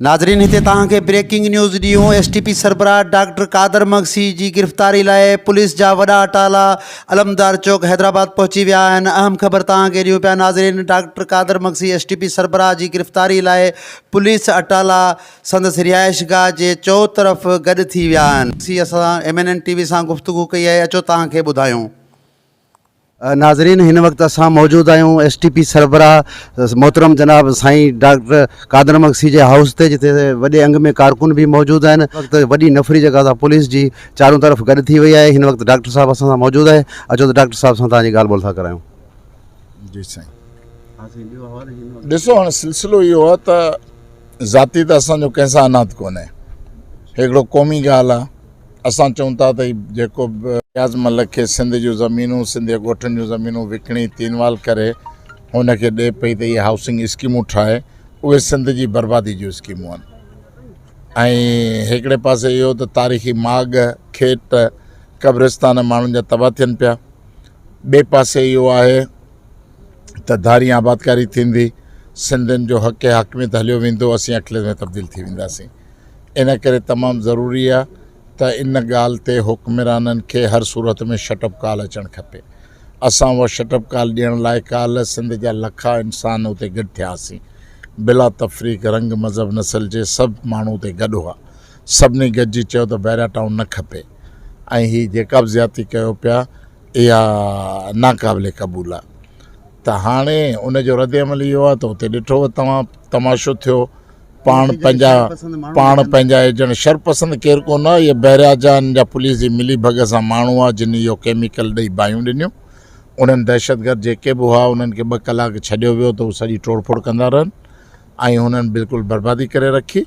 ناظرين هتي توهان کي بريڪنگ نيوز ڏيون ايس ٽي پي سربراهه ڊاڪٽر قادر مگسي جي گرفتاري لاء پوليس جا وڏا اٽالا علمدار چوڪ حيدرآباد پهچي ويا آهن اهم خبر توهان کي ڏيون پيا ناظرين doctor Qadir Magsi S T P سربراهه جي گرفتاري لاء پوليس اٽالا سندس رهائش گاهه جي چوطرف گڏ ٿي ويا آهن اسان M N N T V سان گفتگو ڪئي آهي اچو توهان کي ٻڌايون ناظرين هن وقت اسان موجود آهيون ايس ٽي پي سربراهه محترم جناب سائين ڊاڪٽر قادر مگسي جي هائوس تي جتي وڏي انگ ۾ ڪارڪن به موجود آهن وقت وڏي نفري جيڪا سا پوليس جي چارون طرف گڏ ٿي وئي آهي هن وقت ڊاڪٽر صاحب اسان سان موجود آهي اچو ته ڊاڪٽر صاحب سان توهان جي ڳالهه ٻولهه ٿا ڪرايون جي سائين ڏسو هاڻي سلسلو اهو آهي ته ذاتي ته اسانجو ڪنهن سان انات ڪونهي هڪڙو قومي ڳالهه آهي اسان چئون ٿا ته جيڪو به نياز ملڪ کي سنڌ جون زمينون سنڌي ڳوٺن جون زمينون وڪڻي تينوال ڪري هن کي ڏي پئي ته اهي هائوسنگ اسڪيمون ٺاهي اهي سنڌ جي بربادي جون اسڪيمون آهن ۽ هڪڙي پاسي اهو ته تاريخي ماڳ کيت قبرستان ماڻهن جا تباهه ٿين پيا ٻئي پاسي اهو آهي ته ڌاري آبادڪاري ٿيندي سنڌين جو حق حاڪميت هليو ويندو اسين اقليت ۾ تبديل ٿي وينداسين ان ڪري تمام ضروري آ ته ان ڳالهه تي حڪمرانن کي هر صورت ۾ شٽ اپ ڪال اچڻ کپي اسان اها شٽ اپ ڪال ڏيڻ لاء ڪالهه سنڌ جا لکا انسان اتي گڏ ٿياسين بلا تفريق رنگ مذهب نسل جي سڀ ماڻهو اتي گڏ هئا سڀني گڏجي چيو ته بحريا ٽائون نه کپي ۽ هي جيڪا به زيادتي ڪيو پيا اها ناقابل قبول آ ته هاڻي ان جو رد عمل اهو آ ته اتي ڏٺو توهان تماشو ٿيو پاڻ پنهنجا پاڻ پنهنجا ايجنٽ شر پسند ڪير ڪونه آهي هي بحريا جان جا پوليس جي ملي ڀڳ سان ماڻهو آهي جن اهو ڪيميڪل ڏئي باهيون ڏنيون انهن دهشتگرد جيڪي به هئا انهن کي ٻه ڪلاڪ ڇڏيو ويو ته هو سڄي ٽوڙ ڦوڙ ڪندا رهن ۽ هنن بلڪل بربادي ڪري رکي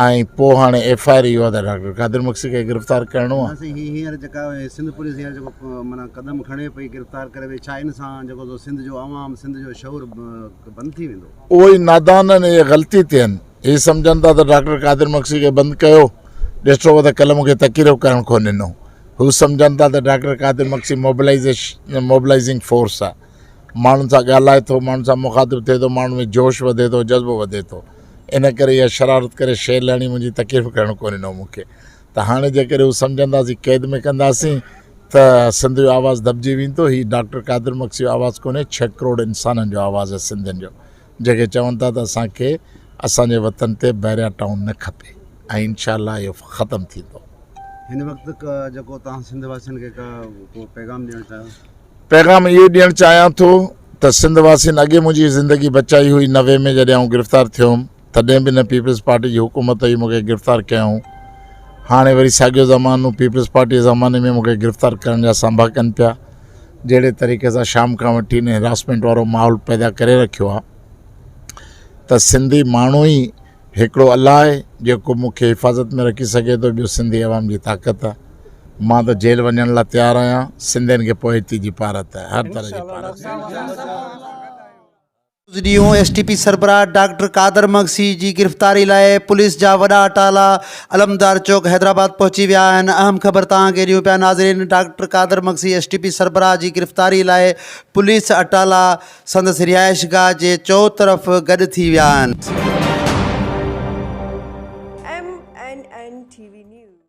۽ پوء هاڻي ايف آئر اهو آهي ته ڊاڪٽر قادر مڪسي کي گرفتار ڪرڻو آهي سي هي هينئر جيڪا سنڌ پوليس هينئر جيڪو مانا قدم کڻي پئي گرفتار ڪري وئي ڇا ان سان جيڪو سو سنڌ جو عوام سنڌ جو شعور بند ٿي ويندو اهو ئي نادانن اهي غلطي تي آهن. هي سمجهن ٿا ته ڊاڪٽر قادر مگسي کي بند ڪيو، ڏٺوء ته قلم کي تڪيرو ڪرڻ ڪونه ڏنو. هو سمجهن ٿا ته doctor Qadir Magsi mobilisation, mobilising force, آهي. ماڻهن سان ڳالهائي ٿو، ماڻهن سان مخاطب ٿئي ٿو، ماڻهن ۾ جوش وڌي ٿو، جذبو وڌي ٿو. ان ڪري اها شرارت ڪري شير لهڻي منهنجي تڪيرو ڪرڻ ڪونه ڏنو مون کي. ته هاڻي جيڪڏهن هو سمجهنداسين قيد ۾ ڪنداسين ته سنڌ جو آواز دٻجي ويندو هي ڊاڪٽر قادر مگسي جو آواز ڪونهي ڇهه ڪروڙ انسانن جو آواز آهي سنڌين جو جيڪي چون ٿا ته اسان کي اسان جي وطن تي بحريا ٽائون نه کپي ۽ انشاء الله اهو ختم ٿيندو هن وقت جيڪو توهان سنڌ واسين کي ڪو پيغام ڏيڻ چاهيو پيغام اهو ڏيڻ چاهيان ٿو ته سنڌ واسين اڳي منهنجي زندگي بچائي هئي نوي ۾ جڏهن آئون گرفتار ٿيو هوم تڏهن به نه پيپلز پارٽي جي حڪومت هئي مون کي گرفتار ڪيائون هاڻي وري ساڳيو زمانو پيپلز پارٽي جي زماني ۾ مون کي گرفتار ڪرڻ جا سانبا ڪن پيا جهڙي طريقي سان شام کان وٺي هن هراسمينٽ وارو ماحول پيدا ڪري رکيو آ ته سنڌي ماڻهو ئي هڪڙو الله آهي جيڪو مون کي حفاظت ۾ رکي سگهي ٿو ٻيو سنڌي عوام جي طاقت آهي ماں تو جيل ونجن لا تيار آيان سندين کے پوئتي جي پارت آهي هر طرح جي پارت روز ڏينهون ايس ٽي پي سربراهه ڊاڪٽر قادر مگسي جي گرفتاري لاء پوليس جا وڏا اٽالا علمدار چوڪ حيدرآباد پهچي ويا آهن اهم خبر توهان کي ڏيون پيا ناظرين doctor Qadir Magsi S T P سربراهه جي گرفتاري لاء پوليس اٽالا سندس رهائش گاهه جي چؤطرف گڏ ٿي ويا آهن. M N N T V news